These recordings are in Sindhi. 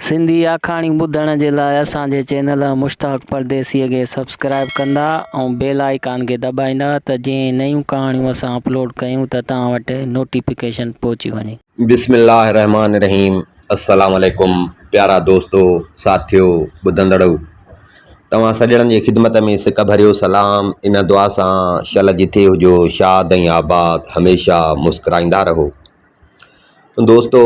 سنڌي آکاڻيون ٻڌڻ جي لاء اسان جي چينل مشتاق پرديسيء کي سبسڪرائيب ڪندا ۽ بيل آئيڪان کي دٻائيندا ته جيئن نيون ڪهاڻيون اسان اپلوڊ ڪيون ته توهان وٽ نوٽيفڪيشن پهچي وڃي. بسم الله الرحمٰن الرحيم السلام عليڪم پيارا دوستو ساٿيو ٻڌندڙو توهان سڄڻن جي خدمت ۾ سڪ ڀريو سلام ان دعا سان شل جٿي هجو شاد ۽ آباد هميشه مسڪرائيندا رهو دوستو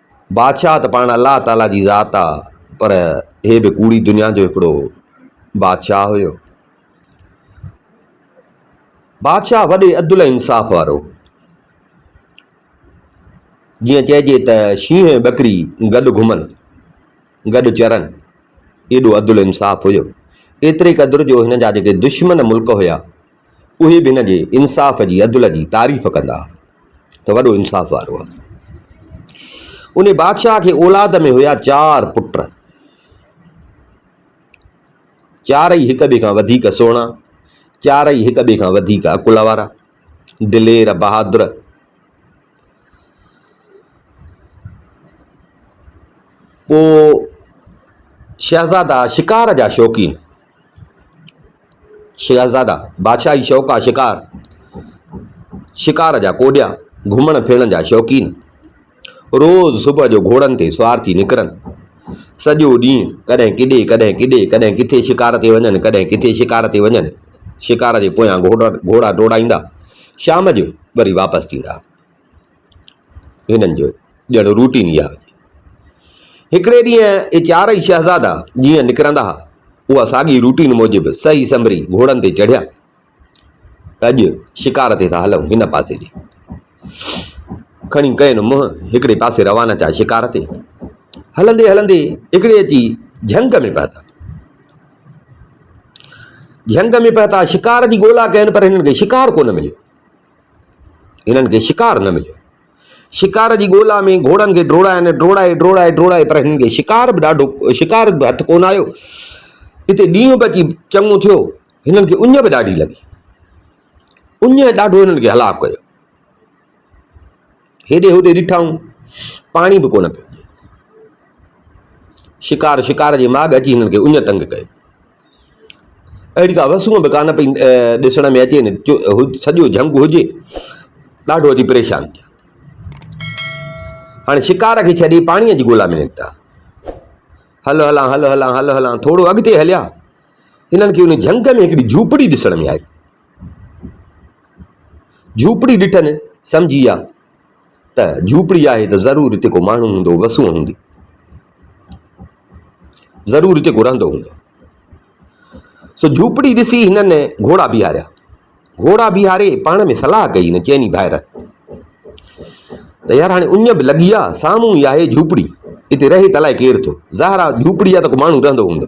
بادشاهه ته پاڻ الله تعاليٰ جي ذات آ پر هي به ڪوڙي دنيا جو هڪڙو بادشاهه هيو. بادشاهه وڏي عدل ۽ انصاف وارو هو. جيئن چئجي ته شينهن ۽ ٻڪري گڏ گهمن، گڏ چرن، ايڏو عدل انصاف هيو. ايتري قدر جو هن جا جيڪي دشمن ملڪ هيا اهي به هن جي انصاف جي، عدل جي، تعريف ڪندا ها ته وڏو انصاف وارو آهي. انهي بادشاهه کي اولاد ۾ هيا چار پٽ. چارئي هڪ ٻئي کان وڌيڪ سهڻا، چارئي هڪ ٻئي کان وڌيڪ عقل وارا، دلير، بهادر. پوء شهزادا شڪار جا شوقين. شهزادا، بادشاهي شوق آ شڪار، شڪار جا ڪوڏيا، گهمڻ ڦرڻ جا شوقين، روز صبح جو گهوڙن تي سوار ٿي نڪرن. سڄو ڏينهن ڪڏهن ڪيڏي، ڪڏهن ڪيڏي، ڪڏهن ڪٿي شڪار تي وڃن، ڪڏهن ڪٿي شڪار تي وڃن. شڪار جي پويان گهوڙا ڊوڙائيندا، شام جو وري واپس ٿيندا. هنن جو ڄڻ روٽين ئي آهي. هڪڙي ڏينهن اهي چارئي شهزادا جيئن نڪرندا ها، اها ساڳي روٽين موجب سهي سنڀري گهوڙن تي چڙهيا ته اڄ شڪار تي ٿا هلون هن پاسي ڏي کڻي ڪين منهن هڪڙي پاسي روانا ٿيا شڪار تي هلندي هلندي هڪڙي اچي جهنگ ۾ پهتا جهنگ ۾ پهتا شڪار جي ڳولا ڪين پر هنن کي شڪار ڪونه مليو هنن کي شڪار نه مليو. شڪار جي ڳولا ۾ گهوڙن کي ڊوڙائن ڊوڙائي ڊوڙائي ڊوڙائي پر هنن کي شڪار به ڏاڍو شڪار به هٿ ڪونه آيو هتي ڏينهن به اچي چڱو ٿيو هنن کي اڃ به ڏاڍي لڳي اڃ ڏاڍو هنن کي هلاڪ ڪيو هيڏي هوڏي ڏٺائون، پاڻي به ڪونه پيو ڏئي. شڪار شڪار جي ماڳ اچي هنن کي اڃ تنگ ڪيو. اهڙي ڪا وسونء به ڪانه پئي ڏسڻ ۾ اچي نه سڄو جهنگ هجي. ڏاڍو اچي پريشان ٿيا. هاڻي شڪار کي ڇڏي پاڻيء جي ڳولا ۾ نڪتا. هل هلان هل هلان هل هلان ٿورو اڳتي هليا. هنن کي ان جهنگ ۾ هڪڙي جهوپڙي ڏسڻ ۾ آئي. جهوپڙي ڏٺن، سمجهي ويا ته جهوپڙي آهي ته ضرور هتي ڪو ماڻهو هوندو، وسون هوندي. ضرور هتي ڪو رهندو هوندو. سو جهوپڙي ڏسي هنن گهوڙا بيهاريا. گهوڙا بيهاري پاڻ ۾ صلاح ڪئي هن چئني ڀائر ته يار هاڻي اڃ به لڳي آ، سامهون ئي آهي جهوپڙي، هتي رهي ته الائي ڪير ٿو. ظاهر آ جهوپڙي آ ته ڪو ماڻهو رهندو هوندو.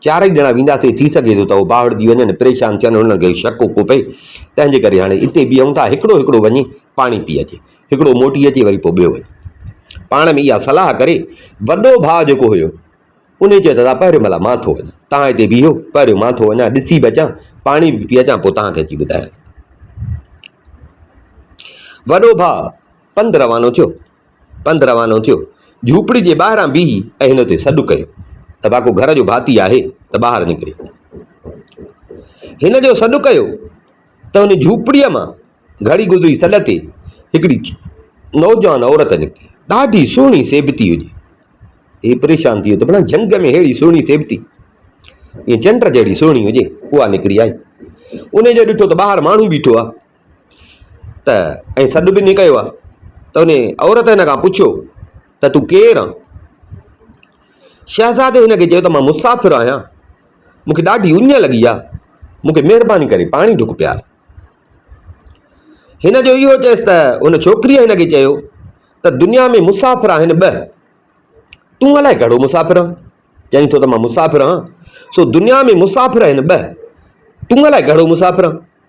چارئي ڄڻا وينداسين، ٿي سگهي ٿو ته هو ٻاوهڙجي وڃن، پريشان ٿين، هنن کي شڪ اڪو پئي، تنهن جي ڪري هاڻي اتي بيهون ٿا، هڪڙو هڪڙو وڃي پاڻي پي اچي، هڪڙو موٽي اچي وري پوء ٻيو وڃي. پاڻ ۾ اها صلاح ڪري، وڏو ڀاء جيڪو هيو، انهي چيو ته ادا پهريون ڀلا مان ٿو وڃان، توهان هتي بيهو، پهريون مان ٿو وڃان، ڏسي به اچان، پاڻي به پي اچان، پوء توهان کي اچي ٻڌايان ٿو. وڏو ڀاء پنڌ روانو ٿيو. پنڌ روانو ٿيو. جهوپڙي جي ٻاهران بيهي اهل تي سڏ ڪيو ته باڪو گهر جو ڀاتي آهي ته ٻاهر نڪري. هن جو سڏ ڪيو ته ان جهوپڙيء مان گهڙي گذري سڏ تي هڪڙي نوجوان عورت نڪتي. ڏاڍي سهڻي سيبتي هجي. هي پريشان ٿي ويو ته ڀلا جهنگ ۾ ههڙي سهڻي سيبتي ائين چنڊ جهڙي سهڻي هجي. اها نڪري آئي. ان جو ڏٺو ته ٻاهر ماڻهو بيٺو آهي. ته ۽ سڏ به نھ ڪيو آھي ته ان عورت ھن کان پڇيو ته تون ڪير آھين؟ شهزادي ھن کي چيو ته مان مسافر آھيان، مون کي ڏاڍي اڃ لڳي آھي، مون کي مھرباني ڪري پاڻي ڍڪ پيار. ھن جو اھو چيس ته ان ڇوڪريء ھن کي چيو ته دنيا ۾ مسافر آھن ٻه، تون الائي ڪھڙو مسافر آھين؟ چئين ٿو ته مان مسافر آھيان، سو دنيا ۾ مسافر آھن ٻه، تون الائي ڪھڙو مسافر آھين؟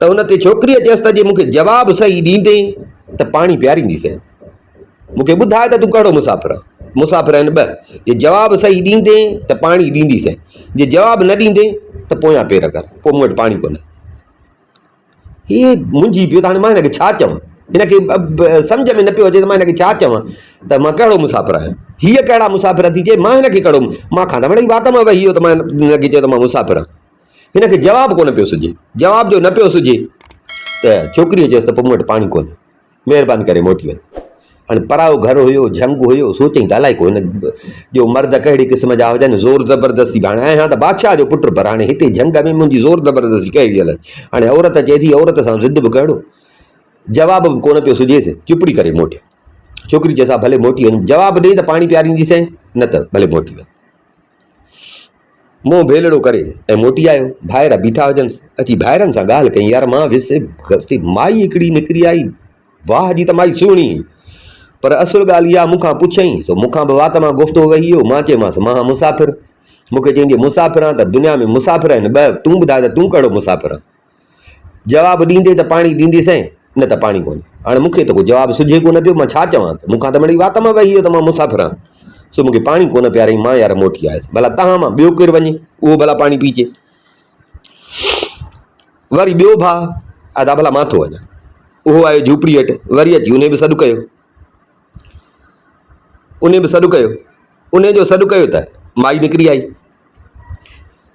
ته ان تي ڇوڪريء چيس ته جي مون کي جواب صحيح ڏيندين ته پاڻي پيارينديسين. مون کي ٻڌاء ته تون ڪهڙو مسافر آهين. مسافر آهن ٻه، جي جواب صحيح ڏيندين ته پاڻي ڏينديسين، جي جواب نه ڏيندين ته پويان پير ڪر، پوء مون وٽ پاڻي ڪونهي. هي منجهي پيو ته هاڻي مان هن کي ڇا چوان؟ هن کي سمجهه ۾ نه پيو اچي ته مان هن کي ڇا چوان ته مان ڪهڙو مسافر آهيان. هيء ڪهڙا مسافر ٿي چئي، مان هن کي ڪهڙو، مان کان ته وڙهي وات مان وهي ويو ته مان هن کي چيو ته مان مسافر آهيان. هن کي جواب ڪونه پيو سجهي. جواب جو نه پيو سجهي ته ڇوڪريء چيس ته پوء مون وٽ پاڻي ڪونهي، مهرباني ڪري موٽي وڃ. هاڻي پرايو گهر هيو، جهنگ هيو، سوچين ڳالهائي ڪو هن جو مرد ڪهڙي قسم جا هجن، زور زبردستي به هاڻي آهيان ته بادشاهه جو پٽ پر هاڻي هتي جهنگ ۾ منهنجي زور زبردستي ڪهڙي هلي. هاڻي عورت چئي ٿي، عورت سان ضد به ڪهڙو. جواب به ڪونه پيو سجهيس، چپڙي ڪري موٽيو. ڇوڪري چيس ها ڀلي موٽي وڃ، جواب ڏئي ته پاڻي پيارينديسين، نه ته ڀلي موٽي وڃ. منهن ڀيلڙو ڪري ۽ موٽي آيو. ڀائر بيٺا هجنس. اچي ڀائرن سان ڳالهه ڪيائين، يار مان ويس اتي مائي هڪڙي نڪري آئي، واهه جي ته مائي سهڻي هئي. پر اصل ڳالهه اها مون کان پڇيائين، سو مون کان به وات مان گفتو وهي ويو. مان چيومانس، مان هان مسافر. مون کي چيائين جي مسافر آن ته دنيا ۾ مسافر آهن ٻه، تون ٻڌاء ته تون ڪهڙو مسافر آن؟ جواب ڏيندي ته پاڻي ڏيندي سئين، نه ته پاڻي ڪونه. هاڻي مون کي ته ڪو جواب سجهي ڪونه پيو، مان ڇا چوانس؟ مون کان ته مڙئي وات مان وهي ويو ته مان مسافر آهيان، سو مون کي پاڻي ڪونه پياريائين، مان يار موٽي آيس، ڀلا توهان مان ٻيو ڪير وڃي، اهو ڀلا پاڻي پيئجي. وري ٻيو ڀاء ادا ڀلا مان ٿو وڃان. اهو آيو جهوپڙيء هيٺ، وري اچي انهي به سڏ ڪيو. انهي به سڏ ڪيو. انهي جو سڏ ڪيو ته مائي نڪري آئي.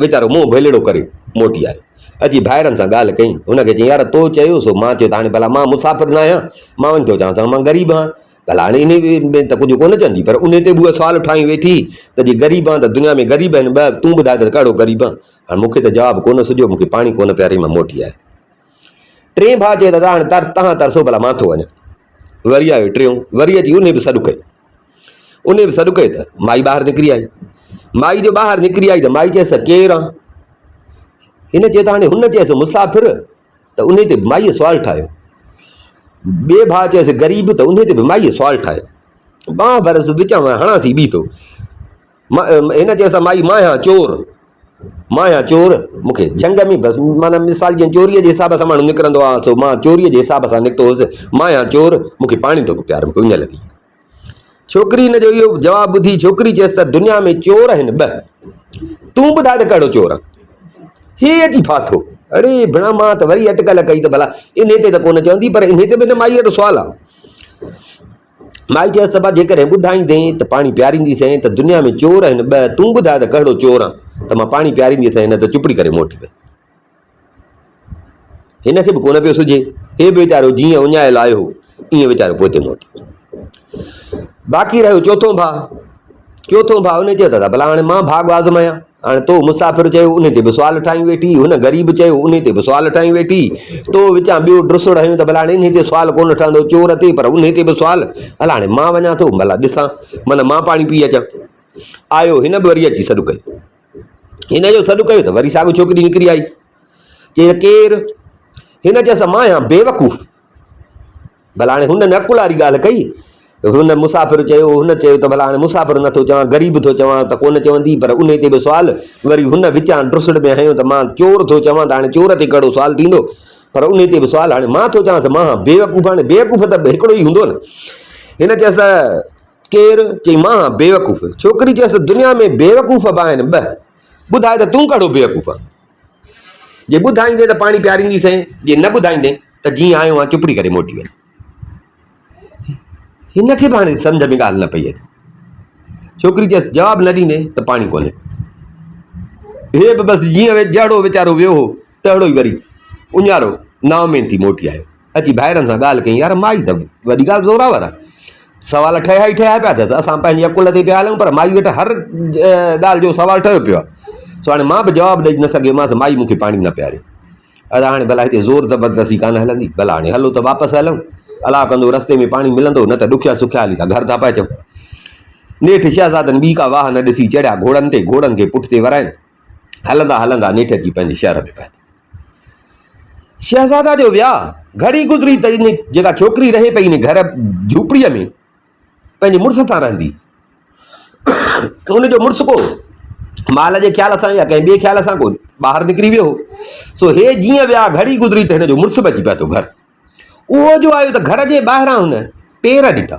ويچارو منهن ڀيلڙو ڪري موٽي آيو. اچي ڀائرن سان ڳالهه ڪيائين. هن کي چيائين، يار تو چيو سو مان چيو ته هاڻي ڀلا مان مسافر نه آهيان، مان وڃي ٿو چوان ته مان غريب آهيان. ڀلا هاڻي انهيء ۾ ته ڪجهه ڪونه چوندي، پر انهيء تي به اها سوال اٺائي ويٺي ته جي غريب آهيان ته دنيا ۾ غريب آهن ٻه، تون ٻڌاء ته ڪهڙو غريب آهيان. هاڻي مون کي ته جواب ڪونه سجهيو، مون کي پاڻي ڪونه پياريائين، مان موٽي آيس. ٽئين ڀاء چيو، دادا هاڻي تر تهان ترسو ڀلا مان ٿو وڃان. وري آيو ٽيون، وري اچي انهي به سڏ ڪئي. انهي به سڏ ڪئي ته مائي ٻاهر نڪري آئي. مائي جو ٻاهر نڪري آئي ته مائي چيس ڪير آن؟ هن چيو ته هاڻي هن چيس مسافر ته انهي تي به مائيء سوال ٺاهيو. ٻئي ڀاء چيس غريب ته انهي تي به مائيء سوال ٺاهيو. ٻانهن ڀر وچان ۾ هڻانسي بيهي ٿو. هن چيس ته مائي مان آهيان چور، مان آهيان چور، مون کي جهنگ ۾ بس معنيٰ مثال جيئن چوريء جي حساب سان ماڻهو نڪرندو آهي سو مان چوريء جي حساب سان نڪتو هوس، مان آهيان چور، مون کي پاڻي ٽوڪ پيار، مون کي اڃ لڳي. ڇوڪري هن جو اهو جواب ٻڌي ڇوڪري چيس ته دنيا ۾ چور آهن ٻه، تون ٻڌاء ته ڪهڙو چور آن؟ هي اچي ڦاٿو. اڙي ڀڻا مان ته وري اٽڪل ڪئي ته ڀلا انهي تي ته ڪونه چوندي پر انهي تي به ته مائي وٽ سوال آهي. مائي چيس ته با جيڪڏهن ٻڌائيندين ته پاڻي پياريندي سين ته دنيا ۾ چور آهن ٻه تون ٻڌاء ته ڪهڙو چور آن ته مان پاڻي پياريندي سين نه ته چپڙي ڪري موٽي وئي. هن کي به ڪونه پيو سجهي هي به ويچارو جيئن اڃايل آيو هو ايئن ويچارو پوئتي موٽي ويو. باقي رهيو چوٿون ڀاء چوٿون ڀاء ان چيو ته ڀلا هاڻي مان ڀاڳ آزمايان هاڻي تو مسافر چيو انهي تي به سوال ٺاهيون ويٺي، هن غريب چيو انهي تي به سوال ٺاهيون ويٺي، تو وچان ٻيو ڊسو ٺاهيون ته ڀلا هاڻي انهي تي سوال ڪونه ٺهندو چور تي پر انهي تي به سوال، هل هاڻي مان وڃان ٿو ڀلا ڏسان من مان پاڻي پي اچان. آيو هن به وري اچي سڏ ڪيو. هن جو سڏ ڪيو ته وري ساڳو ڇوڪري نڪري آئي. چيس ڪير؟ هن چيس مان آهيان بيوقوف. ڀلا هاڻي هن عقل واري ڳالهه ڪئي، هن مسافر چيو، هن چيو ته ڀلا هاڻي مسافر نه ٿو چوان، غريب ٿو چوان ته ڪونه چوندي، پر انهي تي به سوال، وري هن وچان ڊسڙ ۾ هنيو ته مان چور ٿو چوان ته هاڻي چور تي ڪهڙو سوال ٿيندو، پر انهي تي به سوال، هاڻي مان ٿو چوانس مان هان بيوقوف، هاڻي بيوقوف ته هڪڙو ئي هوندو نه، هن چيس ته ڪير؟ چئي مان هان بيوقوف، ڇوڪري چيس ته دنيا ۾ بيوقوف به آهن ٻه، ٻڌاء ته تون ڪهڙو بيوقوف آهين؟ جي ٻڌائيندين ته پاڻي پيارينديسين، جي نه ٻڌائيندين ته جيئن آيو هئان چپڙي ڪري موٽي وڃ. هن کي به هاڻي سمجهه ۾ ڳالهه نه پئي اچي. ڇوڪري چيس جواب نه ڏيندين ته پاڻي ڪونهي. هي به بس جيئن جهڙو ويچارو ويو هو تهڙو ئي وري اڃارو نااميد ٿي موٽي آيو. اچي ڀائرن سان ڳالهه ڪيائين، يار مائي ته وڏي ڳالهه زورآور آ، سوال ٺهيا ئي ٺهيا پيا اٿس، اسان پنهنجي عقل تي پيا هلون پر مائي وٽ هر ڳالهه جو سوال ٺهيو پيو آ، سو هاڻي مان به جواب ڏئي نه سگهيومانس، مائي مون کي پاڻي نه پياريو. ادا هاڻي ڀلا هتي زور زبردستي ڪانه هلندي، ڀلا هاڻي هلو ته واپس هلون، الاء ڪندو رستي ۾ پاڻي ملندو، نه ته ڏکيا سکيا هلي ٿا گهر ٿا پهچون. نيٺ شهزادن ٻي ڪا واهه نه ڏسي چڙهيا گهوڙن تي، گهوڙن کي پٺتي وراين، هلندا هلندا نيٺ اچي پنهنجي شهر ۾ پهتا. شهزادا جو وياء گهڙي گذري ته ان جيڪا ڇوڪري رهي پئي ان گهر جهوپڙيء ۾ پنهنجي مڙس سان رهندي. ان جو مڙس ڪو مال جي خيال سان يا ڪنهن ٻئي خيال سان ڪو ٻاهر نڪري ويو هو. سو هي جيئن ويا گهڙي گذري ته هن جو مڙس به اچي پهتو گهر. اهو جو آيو ته گهر جي ٻاهران هن پير ڏٺا.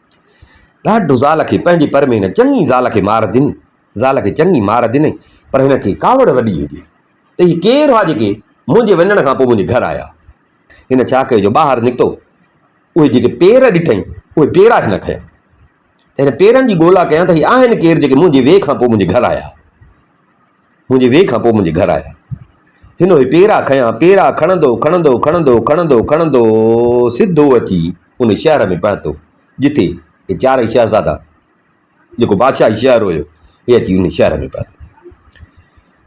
ڏاڍ زال کي پنهنجي پر ۾ هن چڱي زال کي مار ڏني. زال کي چڱي مار ڏنئي پر هن کي ڪاوڙ وڏي هجي ته هي ڪير هئا جيڪي منهنجي وڃڻ کان پوء منهنجي گهر آيا. هن ڇا ڪيو جو ٻاهر نڪتو اهي جيڪي پير ڏٺئي اهي پيرا هن کنيا ته هن پيرن جي ڳولا ڪيان ته هي آهن ڪير جيڪي منهنجي ويهه کان پوء منهنجي گهر آيا. منهنجي ويهه کان پوء منهنجي گهر آيا. هن اهي پيرا کنيا. پيرا کڻندو کڻندو کڻندو کڻندو کڻندو سڌو اچي ان شهر ۾ پهتو، جتي اهي چارئي شهزادا، جيڪو بادشاهي شهر هيو، اهي اچي ان شهر ۾ پهتا.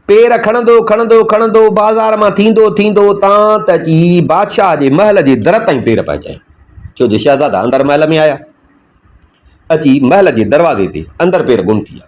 پير کڻندو کڻندو کڻندو بازار مان ٿيندو ٿيندو اتان ته اچي بادشاهه جي محل جي در تائين پير پهچايائين. ڇو جو شهزادا اندر محل ۾ آيا. اچي محل جي دروازي تي اندر پير گم ٿي ويا.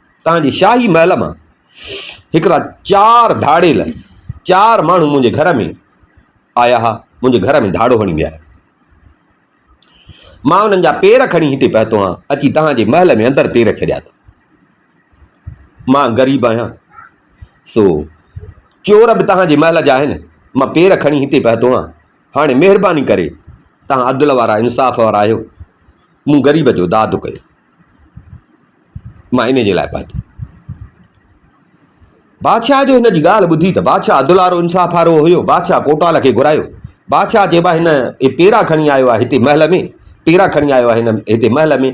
تان جي شاهي محل مان هڪڙا چار ڌاڙيل چار ماڻهو منهنجي گهر ۾ آيا ها، منهنجي گهر ۾ ڌاڙو هڻي ويا. مان انهن جا پير کڻي هتي پهتو آهيان، اچي تان جي محل ۾ اندر پير ڇڏيا اٿم. مان غريب آهيان، سو چور به تان جي محل جا آهن، مان پير کڻي هتي پهتو آهيان، هاڻي مهرباني ڪري تان عدل وارا انصاف وارا آهيو، مون غريب جو داد ڪيو. مان انهيء جي لاء پهتو. بادشاهه جو هن جي ڳالهه ٻڌي ته بادشاهه عدل وارو انصاف وارو هيو. بادشاهه ڪوٽوال کي گهرايو. بادشاهه چيو، هن هي پيرا کڻي آيو آهي هتي محل ۾. پيرا کڻي آيو آهي هن هتي محل ۾.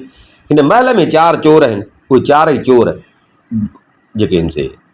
هن محل ۾ چار چور آهن. اهي چارئي چور جيڪي آهن سي.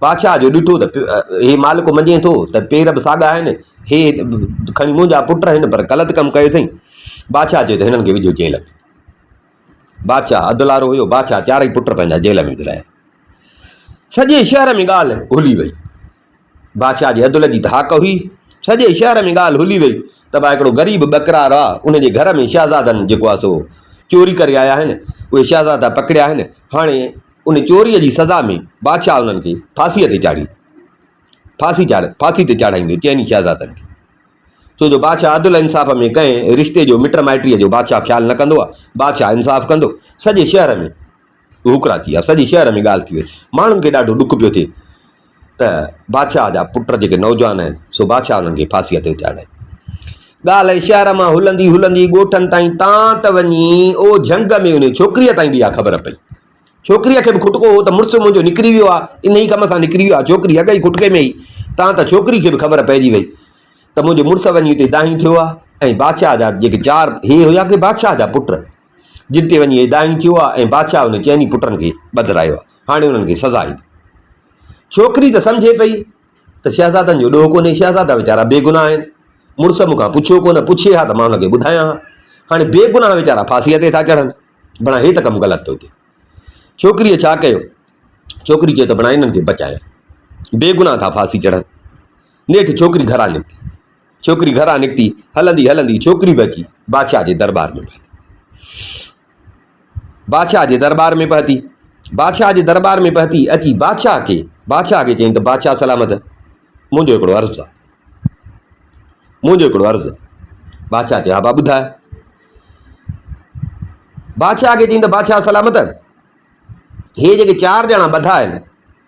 بادشاهه جو ڏٺو ته هي مالڪ مڃين ٿو ته پير به ساڳا آهن، هي کڻي منهنجا پٽ آهن پر غلط ڪم ڪيو اٿئي. بادشاهه چيو ته هنن کي وجهو جيل ۾. بادشاهه عدلارو هيو، بادشاهه چارئي پٽ پنهنجا جيل ۾ وجهرايا. سڄي شهر ۾ ڳالهه هلي وئي. بادشاهه جي عدل جي ڌاڪ هئي، سڄي شهر ۾ ڳالهه هلي وئي ته ڀاء هڪڙو غريب ٻڪرار آ، ان جي گهر ۾ شهزادن جيڪو آ سو چوري ڪري آيا آهن، اهي شهزادا پڪڙيا آهن، هاڻي ان چوريء جي سزا ۾ بادشاهه انهن کي ڦاسيء تي چاڙهي ڦاسي چاڙهي ڦاسي تي چاڙهائيندو چئني شهزادن کي. ڇو جو بادشاهه عدل ۽ انصاف ۾ ڪنهن رشتي جو مٽ مائٽيء جو بادشاهه خيال نه ڪندو آهي. بادشاهه انصاف ڪندو. سڄي شهر ۾ هوڪرا ٿي ويا. سڄي شهر ۾ ڳالهه ٿي وئي. ماڻهن کي ڏاڍو ڏک پيو ٿئي. ته بادشاهه جا پٽ جيڪي نوجوان آهن سو بادشاهه انهن کي ڦاسيء تي چاڙهي. ڳالهه اهي شهر مان هلندي هلندي ڳوٺن تائين تان ته وڃي او جهنگ ۾ انهيء ڇوڪريء تائين به اها خبر پئي. ڇوڪريء کي به کٽڪو هو ته مڙس منهنجو نڪري ويو آهي، انهيء ڪم سان نڪري ويو آهي. ڇوڪري اڳ ئي کٽڪي ۾ هئي، تان ته ڇوڪريء کي به خبر پئجي وئي ته منهنجو مڙس وڃي اتي دانهين ٿيو آهي ۽ بادشاهه جا جيڪي چار هي هيا ڪي بادشاهه جا پٽ جن تي وڃي هي دانهين ٿيو آهي ۽ بادشاهه انهن چئني پٽن کي ٻڌرايو آهي. هاڻي انهن کي سزا ايندي. ڇوڪري ته سمجهي پئي ته شهزادن جو ڏوهه ڪونهي، شهزادا ويچارا بيگناهه آهن، مڙس مون کان پڇيو ڪونه، پڇي ها ته مان هن کي ٻڌايان ها. هاڻي بيگناهه ويچارا ڦاسيء تي ٿا چڙهن، ڀڻا هي ته ڪم غلط ٿو ٿئي. ڇوڪريء ڇا ڪيو؟ ڇوڪري چيو ته ڀڻا انهن کي بچايان، بيگناهه ٿا ڦاسي چڙهن. نيٺ ڇوڪري گهران نڪتي. ڇوڪري گهران نڪتي، هلندي هلندي ڇوڪري به اچي بادشاهه جي درٻار ۾ پهتي. بادشاهه جي درٻار ۾ پهتي. بادشاهه جي درٻار ۾ پهتي اچي بادشاهه کي بادشاهه کي چيائين ته بادشاهه سلامت منهنجو هڪڙو عرض آهي منهنجو هڪڙو عرض بادشاهه چيو ها با ٻڌاء بادشاهه کي چيائين ته بادشاهه سلامت هي جيڪي چار ڄڻا ٻڌا آهن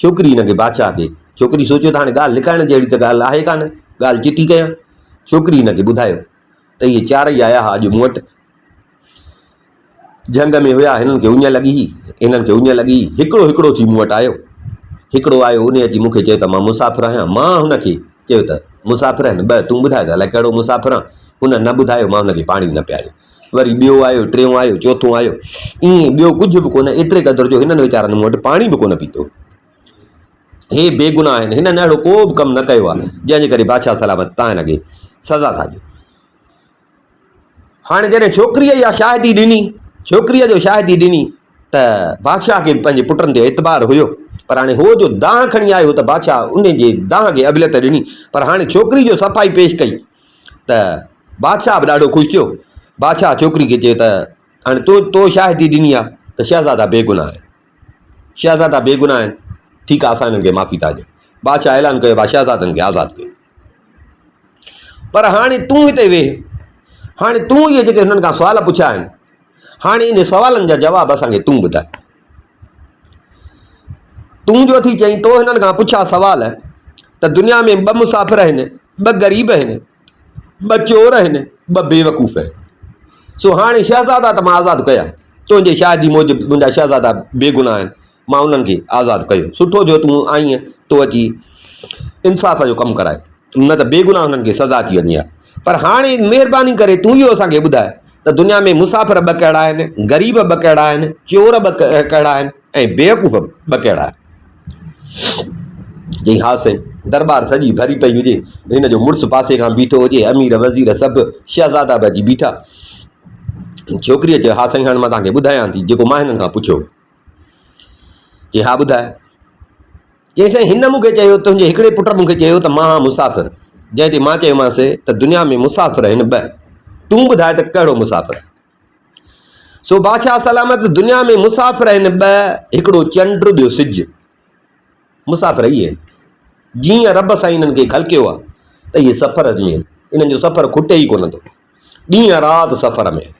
ڇوڪري ان کي بادشاهه کي ڇوڪري سوچيو ته هاڻي ڳالهه لڪائڻ جهڙي ته ڳالهه آهي ڪانه، ڳالهه چٽي ڪيان. ڇوڪري ان کي ٻڌايو ته اهي چارئي آيا ها اڄ مون وٽ. جهنگ ۾ هيا، هنن کي اڃ لڳي هئي، هنن کي اڃ لڳي هئي، هڪڙو هڪڙو ٿي مون وٽ آيو. هڪڙو آيو، ان اچي مون کي چيو ته مان مسافر آهيان. مان هن کي چيو ته مسافر آهن ٻه، تون ٻڌاء ته الائي ڪهڙو مسافر آن. هن نه ٻڌايو، مان هن کي پاڻي نه پياريو. وري ٻيو آيو، ٽيون آيو، چوٿون آيو، ائين ٻيو ڪجهه به ڪونه، ايتري قدر جو هنن ويچارن مون وٽ پاڻي به ڪونه پيتو. هي بيگناهه آهن، هنن اهڙو ڪو به ڪم نه ڪيو آهي، جنهن جي ڪري بادشاهه سلامت تانئن اڳي سزا ٿا ڏيو. هاڻي جڏهن ڇوڪريء اها شاهدي ڏني، ڇوڪريء جو شاهدي ڏني ته بادشاهه کي به پنهنجي پٽن تي اعتبار هيو، پر هاڻي هو جو دانهن کڻي آيو هو ته بادشاهه ان جي دانهن کي اهليت ڏني، پر هاڻي ڇوڪري جو صفائي پيش ڪئي. ته بادشاهه به ڏاڍو خوش ٿيو. بادشاهه ڇوڪري کي چيو ته، هاڻي تو تو شاهدي ڏني آهي ته شهزادا بيگناهه آهن. شهزادا بيگناهه آهن، ٺيڪ آهي اسان هنن کي معافي ٿا ڏيون. بادشاهه اعلان ڪيو ڀاء شهزادن کي آزاد ڪيو. پر هاڻي تون هتي ويهه. هاڻي تون اهي جيڪي هنن کان سوال پڇيا آهن، هاڻي انهن سوالن جا جواب اسان کي تون ٻڌاء. تون جو اٿي چئين تو هنن کان پڇا سوال ته دنيا ۾ ٻه مسافر آهن، ٻه غريب آهن، ٻه چور آهن، ٻه بيوقوف آهن. سو هاڻي شهزادا ته مان آزاد ڪيا، تنهنجي شاهدي موجب منهنجا شهزادا بيگناهه آهن، مان انهن کي آزاد ڪيو. سٺو جو تون آئين تو اچي انصاف جو ڪم ڪرائي، نه ته بيگناهه انهن کي سزا ٿي وڃي ها. پر هاڻي مهرباني ڪري تون اهو اسان کي ٻڌاء ته دنيا ۾ مسافر ٻه ڪهڙا آهن، غريب ٻه ڪهڙا آهن، چور ٻه ڪهڙا آهن ۽ بيوقوف ٻه ڪهڙا آهن. چيائين، ها سائين! درٻار سڄي ڀري پئي هجي، هن جو مڙس پاسي کان بيٺو هجي، امير وزير سڀ شهزادا به اچي بيٺا. ڇوڪريء چيو، ها سائين! هاڻي مان توهان کي ٻڌايان ٿي، جيڪو مان هنن کان پڇيو هو. چي ها ٻڌاء. چيس سائين هن مون کي چيو تنهنجي هڪڙي پٽ مون کي چيو ته مان هان مسافر جنهن تي مان چيومانس ته دنيا ۾ مسافر آهن ٻه تون ٻڌاء ته ڪهڙو مسافر سو بادشاهه سلامت دنيا ۾ مسافر آهن ٻه هڪڙو چنڊ ٻيو سج مسافر اهي آهن، جيئن رب سائين انهن کي خلقيو آهي ته اهي سفر ۾ آهن، انهن جو سفر کٽي ئي ڪونه ٿو. ڏينهن رات سفر ۾ آهن.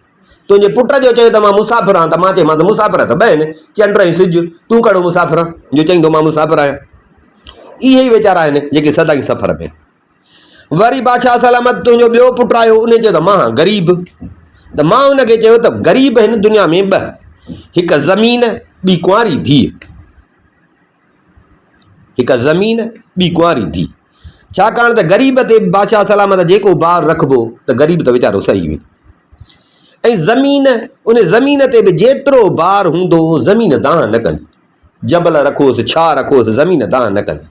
تنهنجي پٽ جو چيو ته مان مسافر آهيان ته مان چيمانس مسافر ته ٻه آهن، چنڊ ۽ سج، تون ڪهڙو مسافر آهين جو چئين ٿو مان مسافر آهيان. اهي ئي ويچارا آهن جيڪي سدائين سفر ۾ آهن. وري بادشاهه سلامت تنهنجو ٻيو پٽ آيو ان چيو ته مان غريب ته مان ان کي چيو ته غريب هن دنيا ۾ ٻه هڪ زمين ٻي ڪنواري ڌيء هڪ زمين ٻي ڪنواري ڌيء ڇاڪاڻ ته غريب تي بادشاهه سلامت جيڪو بار رکبو ته غريب ته ويچارو سهي ويندو ۽ زمين ان زمين تي به جيترو بار هوندو زمين دانهن نه ڪندي جبل رکوس، ڇاهه رکوس، زمين دانهن نه ڪندي.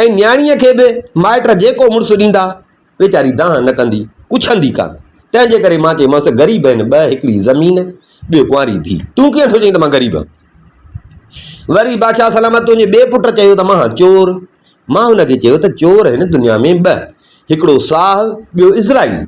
۽ نياڻيء کي به مائٽ جيڪو مڙس ڏيندا، ويچاري دانهن نه ڪندي، ڪڇندي ڪانه. تنهن جي ڪري مان چيمانس ته غريب آهن ٻه، هڪڙي زمين، ٻيو ڪنواري ڌيء. تون ڪيئن ٿو چئين ته مان غريب آهيان؟ وري بادشاهه سلامت تنهنجي ٻئي پٽ چيو ته مان چور. مان هن کي چيو ته چور هن دنيا ۾ ٻه، هڪڙو ساهه، ٻيو اسرائيل.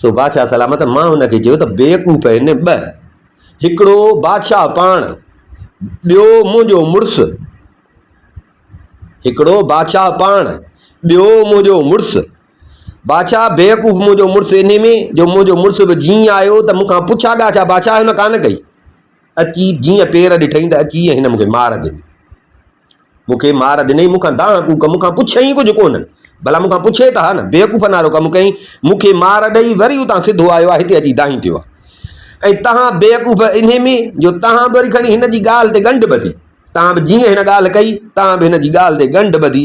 سو بادشاهه سلامت مان هن کي چيو ته بيوقوف هن ٻه، هڪڙو بادشاهه پاڻ، ٻيو منهنجو مڙس. هڪڙو بادشاهه پاڻ، ٻيو منهنجو مڙس. بادشاهه بيوقوف منهنجو مڙس انهي ۾ جو منهنجو مڙس به جيئن آيو ته مون کان پڇا ڳاڇا بادشاهه هن ڪانه ڪئي. اچي جيئن پير ڏٺئين ته اچي هن مون کي مار ڏني. مون کي مار ڏنئي، مون کان دانهن ڪوڪ، مون کان پڇيائين ئي ڪجهه ڪونه. ڀلا مون کان پڇي ته ها نه، بيوقوف نارو ڪم ڪيائين. مون کي مار ڏئي وري اتان سڌو آيو آ، هتي اچي دانهين ٿيو آ. ۽ تهان بيوقوف انهي ۾ جو تهان به وري کڻي هن جي ڳالهه تي ڳنڍ ٻڌي. تهان به جيئن هن ڳالهه ڪئي، تهان به هن جي ڳالهه تي ڳنڍ ٻڌي،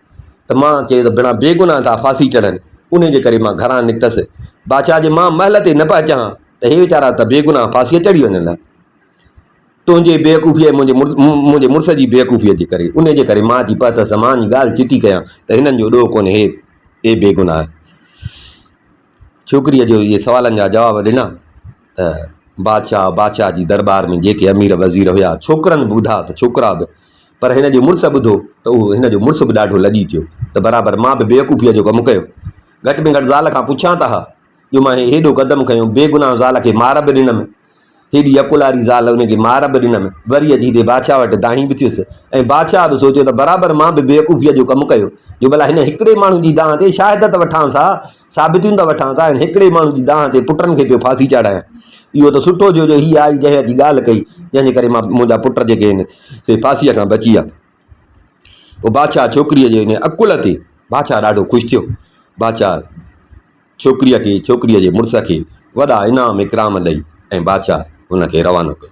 ته مان چيو ته بڻا بيگناهه ڪا ڦاسي چڙهن، انهيء جي ڪري مان گهران نڪتس. بادشاهه جي مان محل تي نه پئي چهان ته هي ويچارا ته بيگناهه ڦاسيء چڙهي وڃن ها. تنهنجي بيوقوفيء ۽ منهنجي مڙس جي بيوقوفيء جي ڪري، انهيء جي ڪري مان اچي پهتس ته مان اڃ ڳالهه چٽي ڪيان ته هنن جو ڏوهه ڪونهي، اي بيگناهه! ڇوڪريء جو اهي سوالن جا جواب ڏنا ته بادشاهه، بادشاهه جي درٻار ۾ جيڪي امير وزير هيا، ڇوڪرن به ٻڌا ته ڇوڪرا به، پر هن جي مڙس ٻڌو ته اهو هن جو مڙس به ڏاڍو لڄي ٿيو ته برابر مان به بيوقوفيء جو ڪم ڪيو. گهٽ ۾ گهٽ زال کان پڇان ته ها، جو مان هي هيڏو قدم کنيو، بيگناهه زال کي مار به ڏنم هيڏي عقل واري زال ان کي مار به ڏنم، وري اچي هتي بادشاهه وٽ دانهين به ٿيس ۽ بادشاهه به سوچيو ته برابر مان به بيوقوفيء جو ڪم ڪيو جو ڀلا هن هڪڙي ماڻهو جي دانهن تي شاهد ته وٺانس ها، ثابتيون ته وٺانس ها، هن هڪڙي ماڻهو جي دانهن تي پٽن کي پيو ڦاسي چاڙهايان. اهو ته سٺو ٿيو جو هيء آئي جنهن اچي ڳالهه ڪئي، جنهن جي ڪري مان منهنجا پٽ جيڪي آهن سي ڦاسيء کان بچي ويا. پوء بادشاهه ڇوڪريء جي ان عقل تي بادشاهه ڏاڍو خوش ٿيو. بادشاهه. ڇوڪريء کي ڇوڪريء جي مڙس کي وڏا انعام اڪرام ڏئي ۽ بادشاهه هن کي روانو ڪيو.